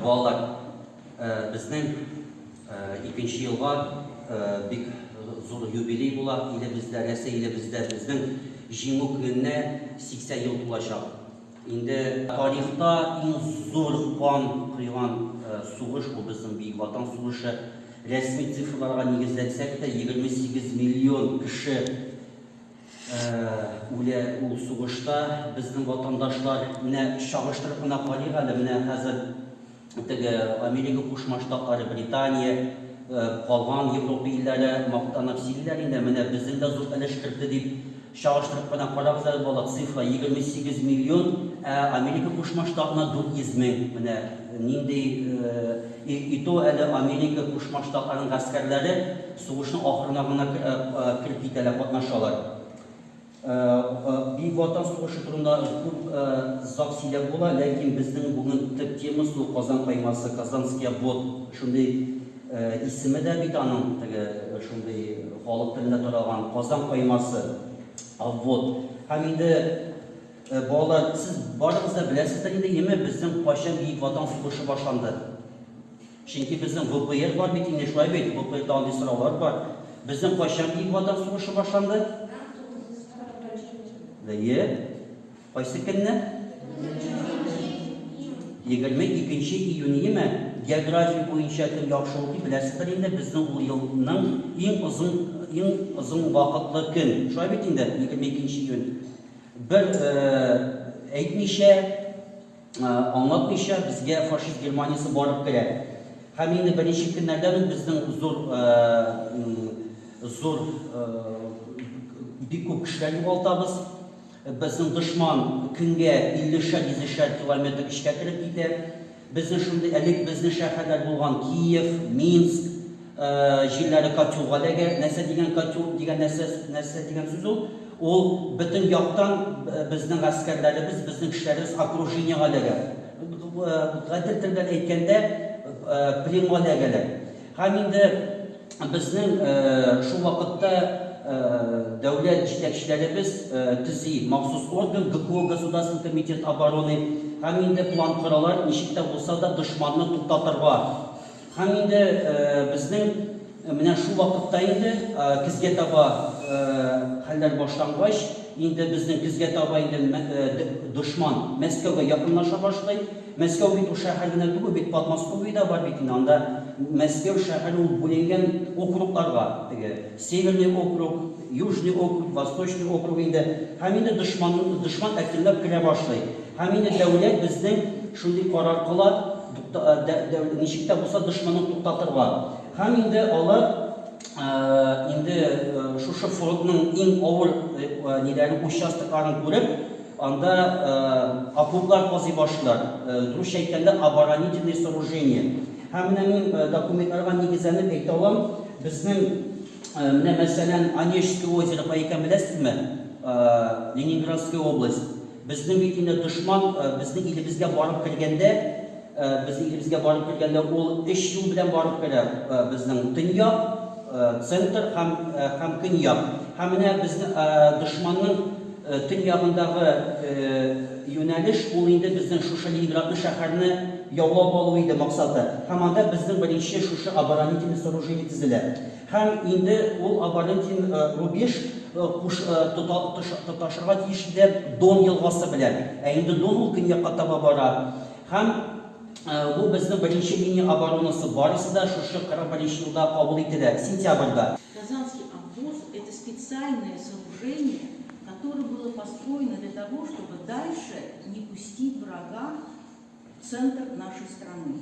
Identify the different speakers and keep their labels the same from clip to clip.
Speaker 1: Балалар, безнең икенче елга бик зур юбилей була. Илебездә, нәрсә илебездә, безнең җиңү көненә 80 ел тулачак. Инде тарихта иң зур кан койган сугыш ул безнең Бөек Ватан сугышы. Рәсми цифрларга нигезләнсәк тә, 28 миллион кеше Үлә ул сугышта безнең ватандашлар. Менә чагыштырып кына карыйк әле, менә хәзер теге Америка Кушма Штатлары, Британия, калган Европа илләре мактанып сөйлиләр инде, менә безнең дә зур өлеш кертте дип. Чагыштырып кына карагыз әле, балалар, цифра, 28 миллион, ә Америка Кушма Штатына 400 мең. Менә нинди, и то әле Америка Кушма Штатларының гаскәрләре, Сугышның ахырына гына кереп китәләр, катнашалар. Бөек Ватан сугышы турында күп зак сөйләп була, ләкин безнең бүген төп темасы ул Казан каймасы, Казанский обвод. Шундый исеме дә бит аның, теге шундый халык телендә таралган Казан каймасы, обвод. Һәм инде, балалар, сез барыгыз да беләсездер инде, яме, безнең кайчан Бөек Ватан сугышы башланды? Чөнки безнең ВПР бар бит инде, шулай бит? ВПРда андый сораулар бар. Безнең кайчан Бөек Ватан сугышы башланды? Мең тугыз йөз кырык беренче ел. Бөек. Кайсы көнне? Егерме икенче июньеме? География буенча кем яхшы укый, беләсездер инде, безнең ул елның иң озын, иң озын вакытлы көн. Шулай бит инде, егерме икенче июнь. Бер әйтмичә, Аңлатмыйча безгә фашист Германиясе барып керә. Һәм инде беренче көннәрдән үк безнең зур, зур, бик күп кешеләр югалтабыз. Безнең дошман көнгә иллешәр-йөзешәр километр эчкә кереп китә. Безнең шундый, элек безнең шәһәрләр булган Киев, Минск, Җилләре котелга эләгә. Нәрсә дигән котел дигән нәрсә, нәрсә дигән сүз ул? Ул бөтен яктан безнең гаскәрләребез, безнең кешеләребез окружениегә эләгә. Гадел тел белән әйткәндә, пленга эләгәләр. Һәм инде безнең шул вакытта дәүләт җитәкчеләребез төзи махсус орган, ГКО, Государственный комитет обороны, һәм инде план коралар, ничек тә булса да дошманны туктатырга. Һәм инде безнең менә шул вакытта инде көзгә таба хәлләр башлангач, инде безнең көзгә таба инде дошман Мәскәүгә якынлаша башлый. Мәскәү бит ул шәһәр генә түгел бит, Подмосковье дә бар бит инде. Анда Мәскәү шәһәре ул бүленгән округларга, теге Северный округ, Южный округ, Восточный округ инде. Һәм инде дошман әкренләп керә башлый. Һәм инде дәүләт безнең шундый карар кыла, Тукта, ничек тә булса дошманын туктатырга. Һәм инде алар инде шушы фронтның иң авыр ниләрен, участокларын күреп, анда окоплар казый башлыйлар. Дөресчә әйткәндә, оборонительные сооружения. Һәм менә мин документларга нигезләнеп әйтә алам, безнең менә мәсәлән Онежское озеро кая икәнен беләсезме? Ленинградская область. Безнең бит инде дошман безнең илебезгә барып кергәндә, безнең илебезгә барып кергәндә ул өч юл белән барып керә, безнең төньяк, центр һәм һәм көньяк. Һәм менә безнең дошманның төньягындагы юнәлеш ул инде безнең шушы Ленинградны шәһәрне яулап алу иде максаты. Һәм анда безнең беренче шушы оборонительный сооружение тезелә. Һәм инде ул абонент син рубеж куш тота тоташырга тиеш иде Дон елгасы белән. Ә инде Дон ул көньякка таба бара. Һәм бу безнең беренче линия оборонасы, барысы да шушы 41 елда кабул ителә, сентябрьда. Казанский обвоз,
Speaker 2: это специальное сооружение, которое было построено для того, чтобы дальше не пустить врага в центр нашей страны.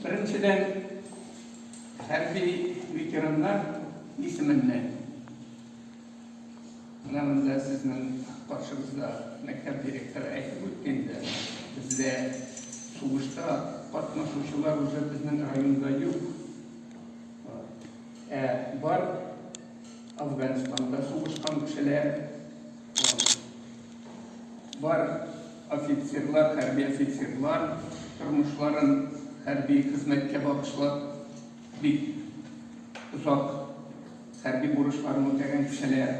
Speaker 3: Беренчедән, хәрби ветераннар исеменнән, менә монда сезнең каршыгызда мәктәп директоры әйтеп үтте инде, бездә сугышта катнашучылар уже безнең районда юк. Ә бар Афганстанда сугышкан кешеләр, бар Офицерлар, хәрби офицерлар тормышларын хәрби хезмәткә багышлап, бик озак хәрби бурычларын үтәгән кешеләр.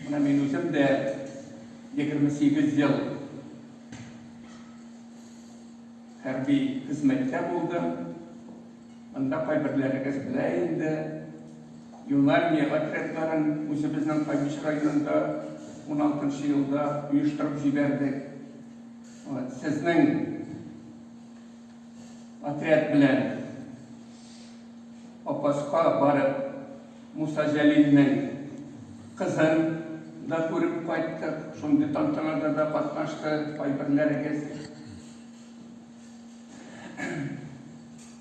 Speaker 3: Менә мин үзем дә 28 ел хәрби хезмәттә булдым. Монда кайберләрегез белә инде, Юнармия отрядларын үзебезнең Кабич районында уналтынчы елда оештырып җибәрдек. Сезнең отряд белән Апаска барып, Муса Җәлилнең кызын да күреп кайттык. Шундый тантанада да катнашты кайберләрегез.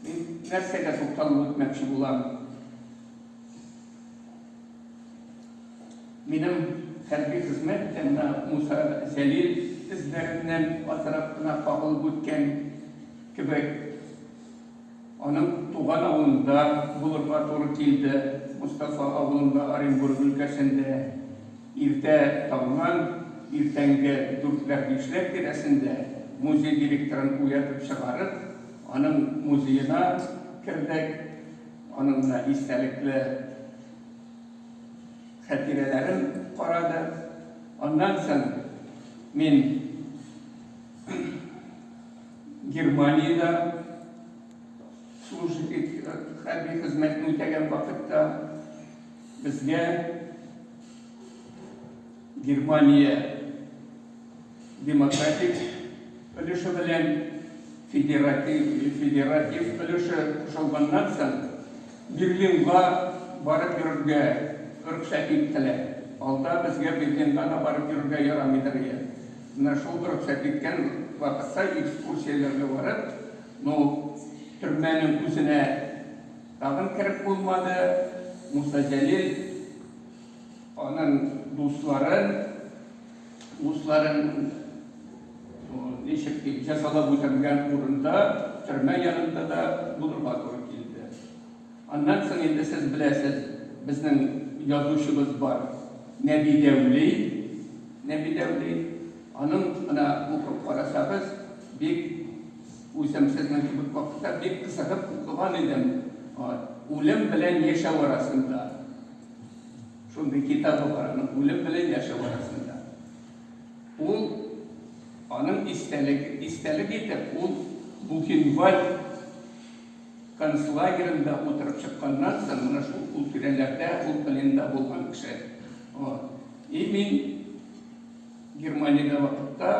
Speaker 3: Мин нәрсәгә тукталып үтмәкче булам? Минем хәрби хезмәт икәнна Муса Җәлил эзләреннән азрак кына кагылып үткән кебек. Аның туган авылында булырга туры килде. Мостафа авылында, Оренбург өлкәсендә, иртә таңнан иртәнге дүртләр-бишләр тирәсендә музей директорын уятып чыгарып, аның музеена кердек. Аның менә истәлекле хәтирәләрен карадык. Аннан соң мин. Германиядә служа хәрби хезмәтне үтәгән вакытта безгә Германия демократик өлеше белән федератив, федератив өлеше кушылганнан соң Берлинга барып йөрергә рөхсәт иттеләр. Алда безгә Берлинга да барып йөрергә ярамыйдыр иде. Менә шул рөхсәт иткән вакытта экскурсияләргә барып, ну, төрмәнең үзенә тагын кереп булмады, Муса Җәлил аның дусларын, дусларын, ну, ничек диим, җәзалап үтәмгән урында, төрмә янында да булырга туры килде. Аннан соң инде сез беләсез, безнең язучыбыз бар, Нәби Дәүли. Нәби Дәүли. Аның ана укып карасагыз, бик үзем сезнең кебек вакытта бик кызыгып укыган идем. Үлем белән яшәү арасында. Шундый китабы бар аның, Үлем белән яшәү арасында. Ул аның истәлеге, истәлек итеп, ул Бухенвальд Концлагеренда утырып чыкканнан соң, менә шул ул тирәләрдә, ул пленда булган кеше. Вот. И мин Германиядә вакытта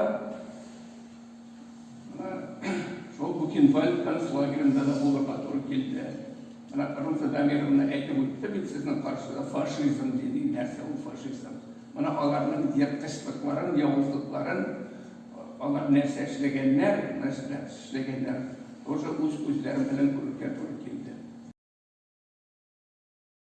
Speaker 3: шул Бухенвальд концлагеренда да булырга туры килде. Менә Кырым Федамировна әйтеп үтте бит сезнең каршыда фашизм диде, нәрсә ул фашизм. Менә аларның ерткычлыкларын, явызлыкларын Алар нәрсә эшләгәннәр, нәрсә эшләгәннәр, тоже үз күзләрем белән күрергә туры килде.